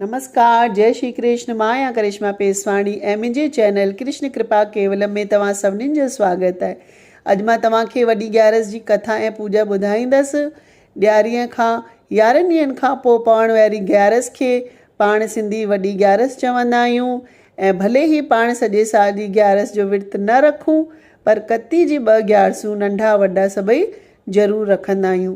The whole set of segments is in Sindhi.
نمسڪار جئي شري ڪرشن مان آهيان ڪرشما پيسواڻي ۽ منهنجي چينل ڪرشن ڪرپا ڪيولم ۾ توهان سڀنين جو سواگت آهي اڄ مان توهان کي وڏي ڳيارس جي ڪٿا ۽ پوڄا ٻڌائيندس ڏياري کان يارهن ڏينهن کان پوء پوڻ واري گيارس کي پاڻ سنڌي وڏي ڳيارس چوندا آهيون ۽ ڀلي هي پاڻ سڄي سال جي ڳيارس جو ورت نه رکون پر ڪتي جي ٻه ڳيارسون ننڍا وڏا سڀئي ضرور رکندا آهيون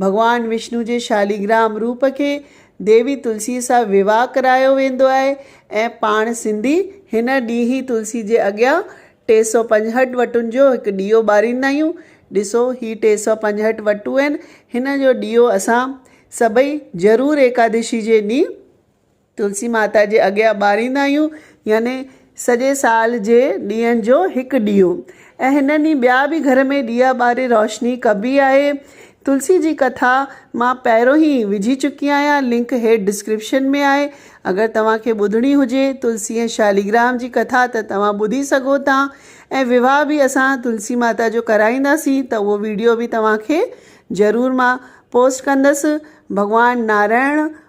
ڀڳوان وشنو جي شاليگرام روپ کي ديوي تلسيء سان ويواهه ڪرايو ويندو آهي ۽ پاڻ سنڌي هن ڏينهن ئي تلسي جي اڳيان ٽي سؤ پنجهٺ وٽن جو هڪ ڏيئو ٻاريندا آهيون. ڏسو هي ٽي سؤ پنجهٺ وٽون آهن، هن جو ڏيئو اسان سڀئي ضرور ايڪادشي جي ڏينهن تلسي ماتا جي اڳيان ٻاريندا آهيون يعني سڄي سال جي ڏيئن جو هڪ ڏيئو ۽ هن ڏينهن ٻيا به گهر ۾ ڏيئا ٻاري روشني ڪبي آهي تلسي جي ڪٿا مان پهريون هي وجهي چڪي آهيان لنڪ هيٺ ڊسڪرپشن ۾ آهي اگر توهان کي ٻڌڻي هجي تلسي ۽ شاليگرام جي ڪٿا ته توهان ٻڌي سگهو ٿا ۽ وواهه به اسان تلسي ماتا جو ڪرائينداسين ته اهو ويڊيو به توهان کي ضرور مان پوسٽ ڪندس ڀڳوان نارائڻ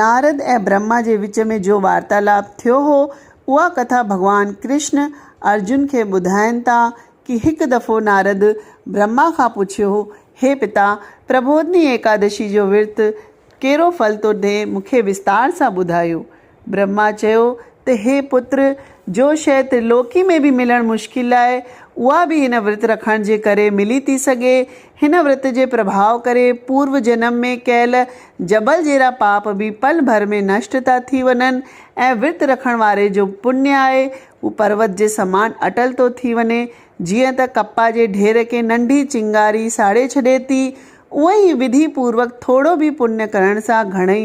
نارد ۽ برهما جي وچ ۾ جو وارتالاپ ٿيو هو، اها ڪٿا ڀڳوان ڪرشن ارجن کي ٻڌائين ٿا ڪي هڪ دفعو نارد برهما کان پڇيو هو، هي پتا، پربوڌني ايڪادشي جو ورت ڪهڙو ڦل ٿو ڏئي، مون کي وستار سان ٻڌايو. برهما چيو ته هي پتر، جو شيء ترلوڪي ۾ به ملڻ مشڪل آهي، اها به هن ورت رکڻ جي ڪري ملي ٿي سگهي. هن ورت جي پرڀاء ڪري پورو جنم ۾ ڪيل جبل جيرا پاپ به پل ڀر ۾ نشٽ ٿا ٿي وڃن ۽ ورت رکڻ واري جو پڃ آهي اهو پروت جي سمان اٽل ٿو ٿي وڃي. جيئن ته ڪپا جي ڍير کي ننڍي چنگاري ساڙي ڇڏي ٿي، اونئي ئي وڌي پوروڪ ٿورو به پڃ ڪرڻ سان گهڻئي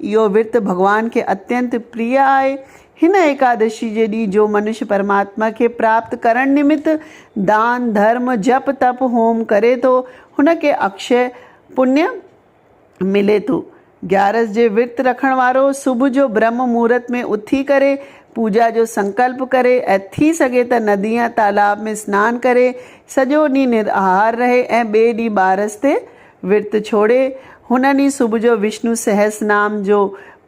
اهو ورت ڀڳوان کي اتينت پريء آهي. هن ايڪادشي جي ڏينهن جو منش پرماتما کي پراپت ڪرڻ نمت دان، ڌرم، جپ، تپ، هوم ڪري ٿو، هن کي اڪشي پڃ ملي ٿو. گيارس جي ورت رکڻ وارو صبح جو برهمه مهورت ۾ اٿي ڪري پوڄا جو سنڪلپ ڪري ۽ ٿي سگهي ته ندي يا تالاب ۾ سنان ڪري سڄو ڏينهن نراهار رهي ۽ ٻئي ڏينهن ٻارس تي ورت ڇوڙي، هن ڏينهن صبح جو وشنو سهس نام جو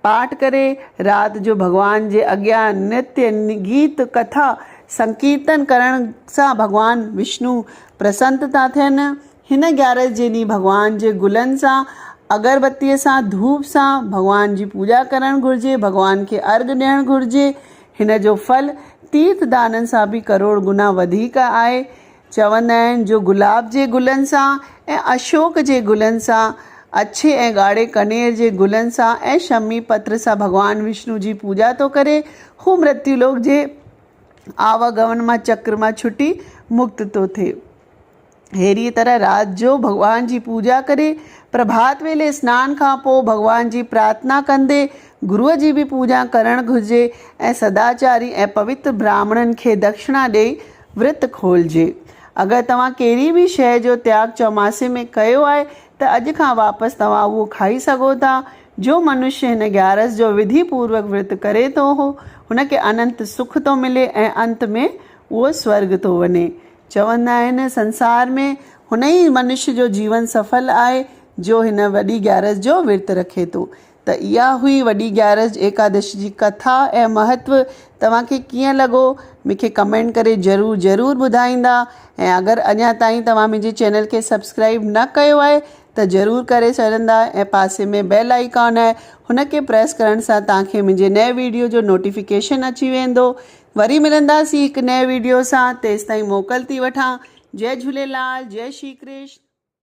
پاٺ ڪري، رات جو ڀڳوان جي اڳيان نرتي، گيت، ڪٿا، سنڪيرتن ڪرڻ سان ڀڳوان وشنو پرسنت ٿا ٿين. هن گيارس جي ڏينهن ڀڳوان جي گلن سان، اگربتيء سان، ڌوپ سان ڀڳوان جي پوڄا ڪرڻ گهرجي، ڀڳوان کي ارغ ڏيڻ گهرجي. هن جو ڦل تيرٿ دانن سان به ڪروڙ گنا وڌيڪ آهي. چوندا آهن جو گلاب جي گلن سان ۽ اشوڪ جي گلن سان، اڇي ۽ ڳاڙهي ڪنير جي گلن سان ۽ شمي پتر سان ڀڳوان وشنو جي پوڄا ٿو ڪري، هو مرتيو لوڪ جي آواگمن مان چڪر مان ڇٽي مڪت ٿو ٿئي. ههڙيء طرح رات جو ڀڳوان جي پوڄا ڪري، پرڀات ويلي سنان کان پوء ڀڳوان جي پرارٿنا ڪندي، گروء جي به پوڄا ڪرڻ گهرجي ۽ سداچاري ۽ پوتر براهمڻن کي دکشڻا ڏيئي ورت کولجي. اگر توهان ڪهڙي به شيء جو تياڳ چوماسي ۾ ڪيو آهي ته اڄ کان واپس توهان اهو کائي سگهو ٿا. جو منشي هن گيارس جو وڌي پوروڪ ورت ڪري ٿو اهو هن کي اننت سک ٿو ملي ۽ انت ۾ اهو سورڳ ٿو وڃي. چوندا آهن سنسار ۾ هن ئي منشي جو جيون سڦل آهي جو هن وڏي گيارس جو ورت رکي ٿو. ته اها هئي وڏي گيارس ايڪادشي جي ڪٿا ۽ مهتو توهان کي ڪيئن لڳو مونکي ڪمينٽ ڪري ضرور ضرور ٻڌائيندا ۽ اگر اڃا تائين توهان منهنجي چينل کي سبسڪرائب نه ڪيو آهي ته ضرور ڪري ڇڏندا ۽ پاسي ۾ بيل آئيڪان آهي هن کي پريس ڪرڻ سان توهان کي منهنجي نئين ويڊيو جو نوٽيفڪيشن اچي ويندو وري ملنداسين هڪ نئين ويڊيو سان تيستائين موڪل ٿي وٺان جئي جهوليلال جئي شري ڪرشن.